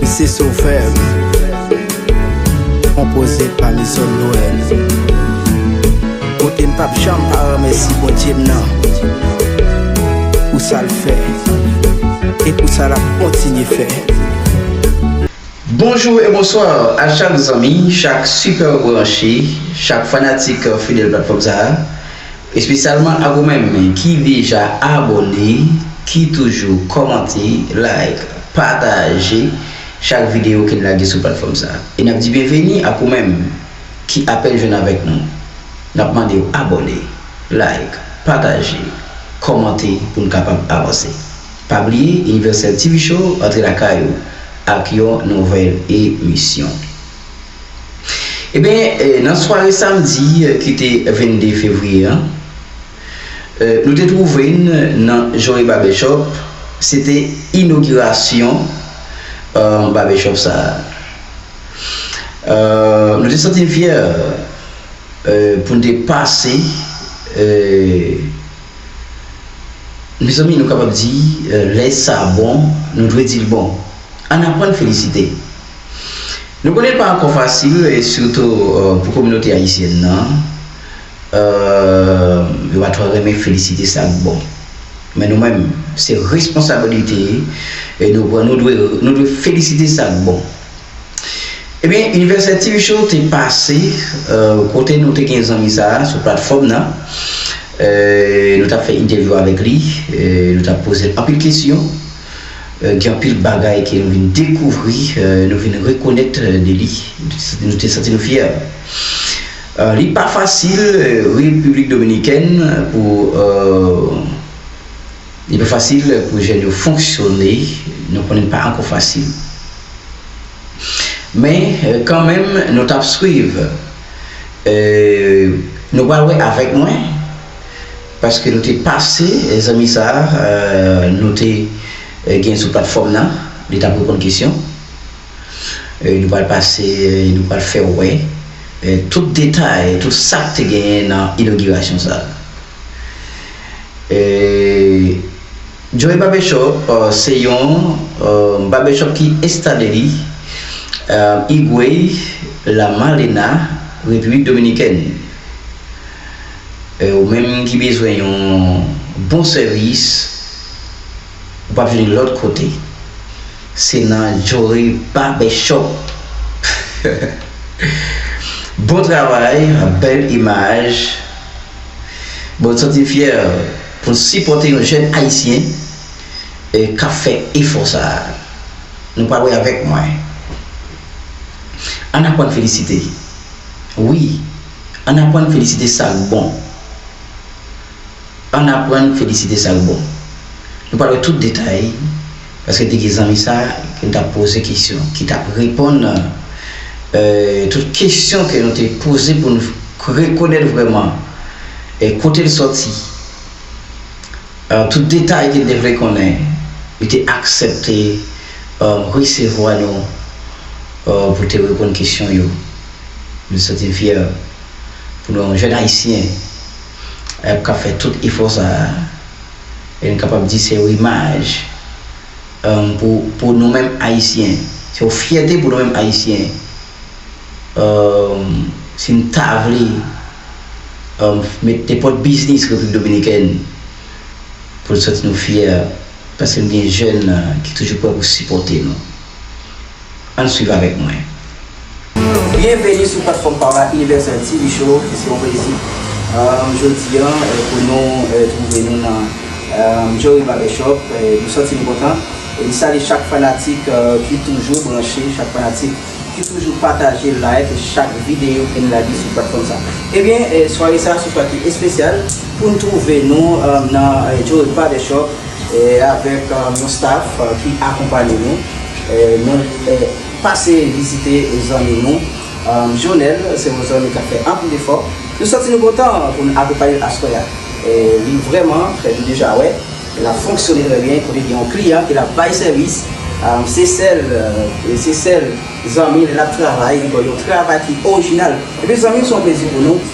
Se Sovèm Konpoze pa Mison Noel Kote m pap janm pa remèsi Bondye m nan Pou sa l fè E pou sa l ap kontinye fè. Bonjou e bonsoir a chak zanmi, chak super branche, chak fanatik fidèl platfòm sa a. Espesyalman ak ou menm ki deja abòne, ki toujou kòmante, like, pataje chak videyo ke n lage sou platfòm sa. E n ap di byenveni ak ou menm ki apèn jwenn avèk nou. N ap mande w abòne, like, pataje, kòmante pou n kapab avanse. Pa bliye Universel TV Show antre lakay ou ak yon nouvèl emisyon. Ebyen, nan sware samdi ki te 22 fevriye an, nou te twouve n nan Joe Barbershop, se te inogirasyon Barbershop sa. Nou te santi n fyè pou n te pase, mezanmi nou kapab di lè sa bon, nou dwe di l bon. Ann aprann felisite. Nou konnen l pa ankò fasil e sitou pou kominote ayisyèn nan, yo pa twò renmen felisite sa k bon. Men nou menm, se responsabilite nou pran, nou dwe felisite sa k bon. Ebyen, Inivèsè TV Show te pase kote nou te gen zanmi sa a sou platfòm nan, nou t ap fè entèvyou avèk li, nou t ap poze l anpil kesyon. Gen anpil bagay ke nou vin dekouvri, nou vin rekonèt de li, nou te santi nou fyè. Li pa fasil Repiblik Dominikèn pou li pa fasil pou jèn yo fonksyone, nou konnen pa ankò fasil. Men kan menm nou tap swiv, nou pral wè avèk mwen Paske nou te pase zanmi sa nou te gen sou platfòm nan li tap reponn kesyon nou pral pase nou pral fèw wè tout detay tout sak te genyen nan inogirasyon sa Joe Barbershop se yon Barbershop ki enstale li Higüey La Malena Repiblik Dominikèn. Ou menm ki bezwen yon bon sèvis, ou pa vini lòt kote, se nan Jory Barber Shop. Bon travay, bèl imaj. Bon n santi n fyè pou n sipòte yon jèn Ayisyen k ap fè efò sa a. Nou pale avèk mwen. Ann aprann felisite. Wi! Ann aprann felisite sa k bon Ann aprann felisite sa k bon Nou pral wè tout detay paske te gen zanmi sa ke n t ap poze kesyon ki t ap reponn tout kesyon ke nou te poze pou n rekonèt vrèman kote l sòti tout detay ke n te vle konnen Li te aksepte resevwa nou pou te reponn kesyon yo M santi m fyè pou nou yon jèn Ayisyen ayp k ap fè tout efò sa a e n kapab di se yon imaj pou nou menm Ayisyen, se yon fyète pou nou menm Ayisyen si n ta vle met nenpòt biznis Repiblik Dominikèn pou n santi nou fyè paske n gen jèn ki toujou prè pou sipòte nou. Ann swiv avèk mwen. Byenveni sou platfòm pa w la Universal TV Show e se yon plezi jodi an pou nou twouve nou nan Jory Barbershop. Nou santi nou kontan e m salye chak fanatik ki toujou branche, chak fanatik ki toujou pataje, like chak videyo ke n lage sou platfòm sa. Ebyen, sware sa a se yon sware ki espesyal pou n twouve nou nan Jory Barbershop avèk yon staff ki akonpanye nou nou pase vizite zanmi nou Jonel se yon zanmi kap fè anpil efò nou santi nou kontan pou nou akonpanyel aswè a li vrèman fè nou deja wè lap fonksyone trè byen kote gen yon kliyan ke lap bay sèvis se sèl se sèl zanmi lè lap travay li bay yon travay ki orijinal ebyen zanmi se yon plezi pou nou.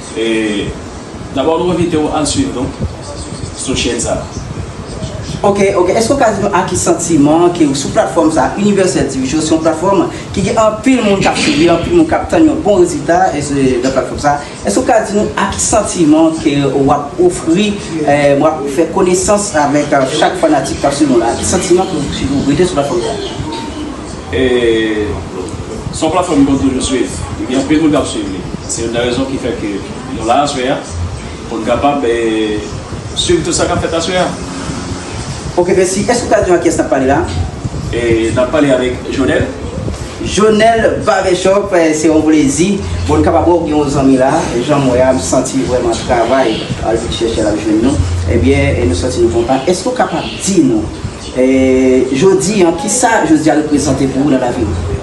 Dabò nou envite w al swiv nou sou chèn sa a. Ok, ok, èske ou ka di nou a ki santiman ke ou sou platfòm sa a, Universel TV Show, se yon platfòm ki gen anpil moun kap swiv li, anpil moun kap tann yon bon rezilta nan platfòm sa a, èske ou ka di nou a ki santiman ke ou ap ofri, ou ap fè konesans avèk chak fanatik kap swiv nou la, a ki santiman ke ou rete sou platfòm sa a? Se yon platfòm m konn toujou swiv, gen anpil moun k ap swiv li. Se youn nan rezon ki fè ke nou la aswè a, pou n kapab swiv tout sa k ap fèt aswè a. Ok, mèsi. Èske ou ka di nou ak kiyès n ap pale la a? N ap pale avèk Jonel. Jonel Barbershop, se yon plezi pou n kapab wè w gen yon zanmi la a. Jan m wè a, m santi li vrèman travay, al vin chèche l ap jwenn nou. Ebyen, nou santi nou kontan. Èske ou kapab di nou. Jodi an, ki sa jodi a reprezante pou ou nan lavi ou?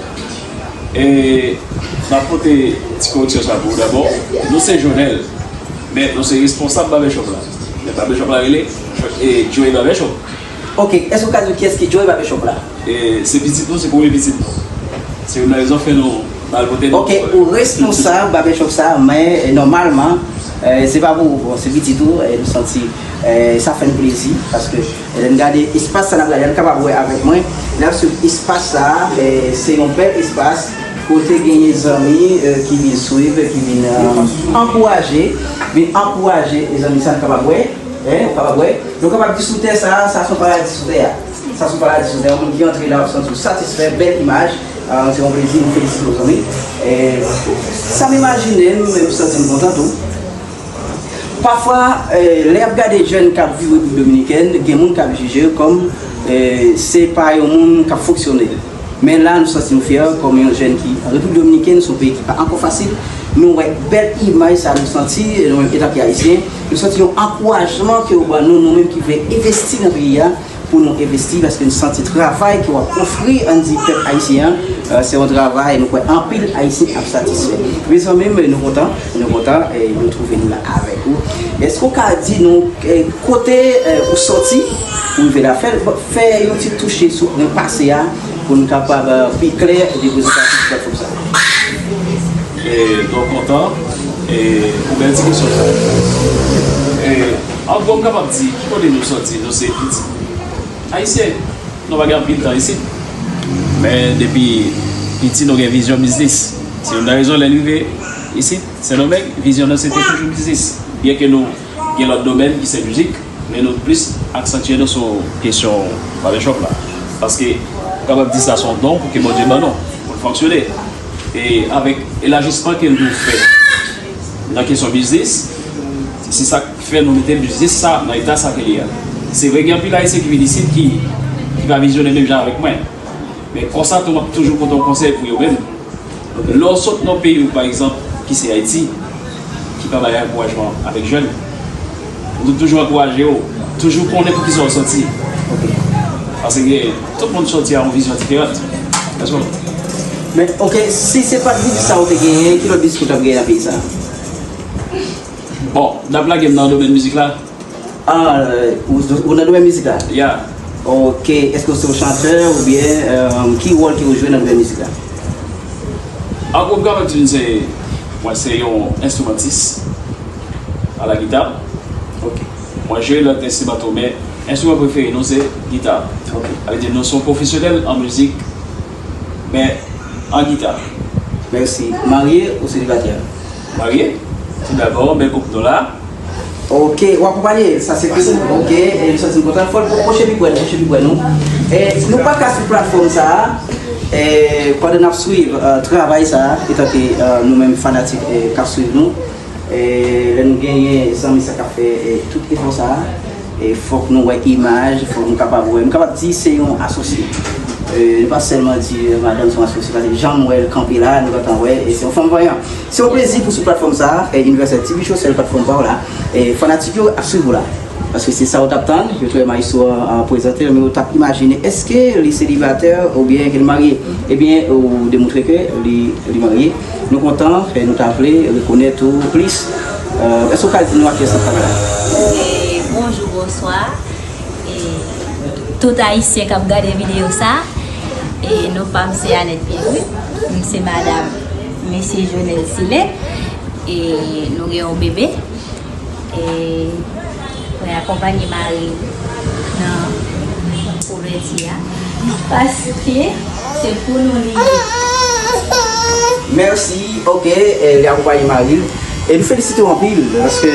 E map pote ti koreksyon sa pou ou dabò, nou se Jonel, men nou se responsab Babèchòp la. Men Babèchòp la rele Joe Babèchòp. Ok, èske ou ka di nou kiyès ki Joe Babèchòp la? E se pitit nou, se premye pitit nou. Se youn nan rezon fè nou bal pote non. Ok, ou responsab Babèchòp sa, men nòmalman se pa pou ou, bon se pitit ou, nou santi sa fè nou plezi paske. Lè n gade espas sa n ap gade a, n kapab wè avèk mwen, lè n ap swiv espas sa a, se yon bèl espas kote genyen zanmi ki vin swiv, ki vin ankouraje, vin ankouraje zanmi sa n kapab wè, ou kapab wè. Nou kapab di sou tè sa a, sa se yon paradi sou tè a. Sa se yon paradi sou tè a. Yon moun ki antre la, w ap santi w satisfè, bèl imaj. Se yon plezi, m felisite w zanmi. Sa m imajine, m santi m kontan tou. Pafwa, lè y ap gade jèn k ap viv Repiblik Dominikèn, gen moun k ap jije yo kòm se pa yon moun k ap fonksyone. Men la nou santi nou fyè kòm yon jèn ki an Repiblik Dominikèn, se yon peyi ki pa ankò fasil. Nou wè bèl imaj sa a, nou santi nou menm etan ke Ayisyen, nou santi yon ankourajman ke yo ban nou, nou menm ki vle envesti nan peyi a. pou nou envesti paske nou santi travay ke wap ofri Andy pèp ayisyen an se yon travay nou kwè anpil ayisyen ap satisfè mezanmi nou kontan nou kontan nou twouve nou la avèk ou eske ou ka di nou kote ou soti pou rive la fèl fè yon ti touche sou pwen pase a pou nou kapab pi klè depoze sa sou platfòm sa mwen twò kontan pou bèl ti kesyon sa. Anko m kapab di ki kote nou soti nou se pitit Ayisyen nou pa gen anpil tan isit men depi piti nou gen vizyon biznis se youn nan rezon lè n rive isit Sendomeng vizyon nou se te toujou biznis byen ke nou gen lòt domèn ki se mizik men nou plis aksantye nou sou kesyon Barbershop la paske m kapab di sa se yon don pou ke Bondye ban nou pou n fonksyone e avèk elajisman ke nou fè nan kesyon biznis. Se sa k fè nou mete biznis sa nan eta sa ke li a. Se vre gen anpil Ayisyen ki vin isit ki pa vizyonè menm jan avèk mwen. Men konsa tou m ap toujou pote yon konsèy pou yo menm. Lè w sot nan yon peyi ou pa egzanp ki se Ayiti, ki pa bay ankourajman avèk jèn, m te toujou ankouraje yo, toujou konnen pou ki sa w soti. Paske tout moun soti a yon vizyon diferant. Mèsi bòs. Men ok, si se pat biznis sa ou te genyen, ki lòt biznis ou t ap genyen nan peyi sa? Bon, nap lagem nan domèn mizik la? Ahh, ou nan domèn mizik la? Yeah. Ok, eske ou se yon chantè oubyen ki wòl ke ou jwe nan domèn mizik la? Ahh, ou kapab di m se, mwen se yon enstrimantis a la gita. Ok. Mwen jwe lòt enstriman tou men enstriman prefere nou se gita. Ok. Sa vle di nou se yon pwofesyonèl an mizik men an gita. Mèsi. Marye ou selibatè? Marye tou dabò bèl koup nou la. Ok ou akonpanye sa se pou ou ok e m santi m kontan fò l pwoche pi prè pwoche pi prè nou e nou pa ka sou platfòm sa e pandan n ap swiv travay sa etanke nou menm fanatik k ap swiv nou e lè nou genyen zanmi sa k ap fè tout efò sa. Fòk nou wè imaj, fòk nou kapab wè, m kapab di se yon asosye. Nou pa sèlman di madanm se yon asosye, paske jan m wè l kanpe la, nou gentan wè se yon fanm vanyan. Se yon plezi pou sou platfòm sa, Universel TV Show, sèl platfòm pa w la. Fanatik yo ap swiv ou la, paske se sa yo t ap tann, yo te wè Maestro an prezante l, men yo t ap imajine èske li selibatè oubyen ke li marye. Ebyen ou demoutre ke li marye. Nou kontan e nou ta vle rekonèt ou plis. Èske ou ka di nou a kiyès ou travay? Bonjou, bonswa e tout ayisyen kap gade videyo sa e non pam se Anèt Pierre-Louis m se madam mesye Jonel Sile e nou gen yon bebe. E mwen akonpanye mari m nan ouvèti a. Paske se pou nou li ye. Merci ok li akonpaye mari l. E nou felisite w anpil paske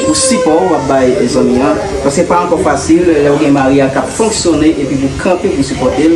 pou sipò wap bay zanmi an paske pa ankò fasil lèw gen mari a kap fonksyone epi pou kanpe pou sipòte l.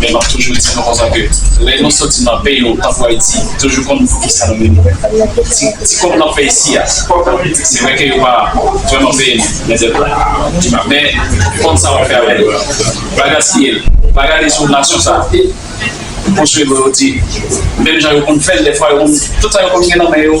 Men map toujou di nou konsa ke lè nou soti nan peyi nou tankou Ayiti toujou konn poukisa nou vini ti kòb nap fè isi a se vre ke yo pa vrèman peye nou mendèv la men konn sa wap fè avèl pa gaspiyel pa gade sou nasyon sa pou swe vre yo di menm jan yo konn fèl dèfwa yo konn tout sa yo konn gen nan men yo.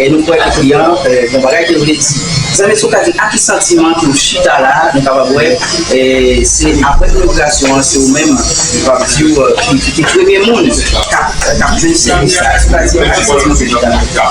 E nou kwè lakli an bon bagay ke l vle di. Zanmi èske w ka di a ki santiman ke w chita la a? Nou kapab wè se apre inograsyon an se ou menm nou kapab di w ki te premye moun k ap jwenn sèvis la. Èske w ka di a ki santiman ke w chita la a?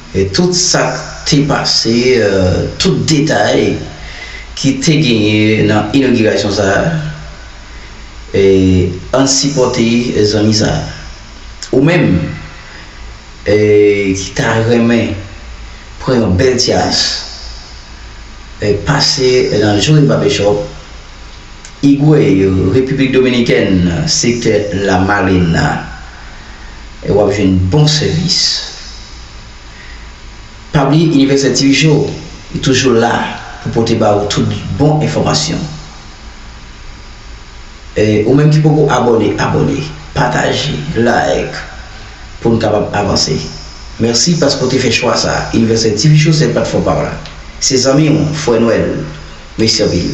E tout sa k te pase, tout detay ki te genyen nan inogirasyon sa a, e ann sipòte zanmi sa a. Ou menm e ki ta renmen pran yon bèl ti as, e pase nan Joe Barbershop, Higüey, Repiblik Dominikèn, sektè La Malena. e wap jwenn bon sèvis. Pa bliye Universel TV Show li toujou la pou pote ba ou tout bon enfòmasyon. E ou menm ki poko abòne, abòne, pataje, like pou nou kapab avanse. Mèsi paske ou te fè chwa sa Universel TV Show sèl platfòm pa w la. Se zanmi w, frè Nwèl. Mèsi anpil.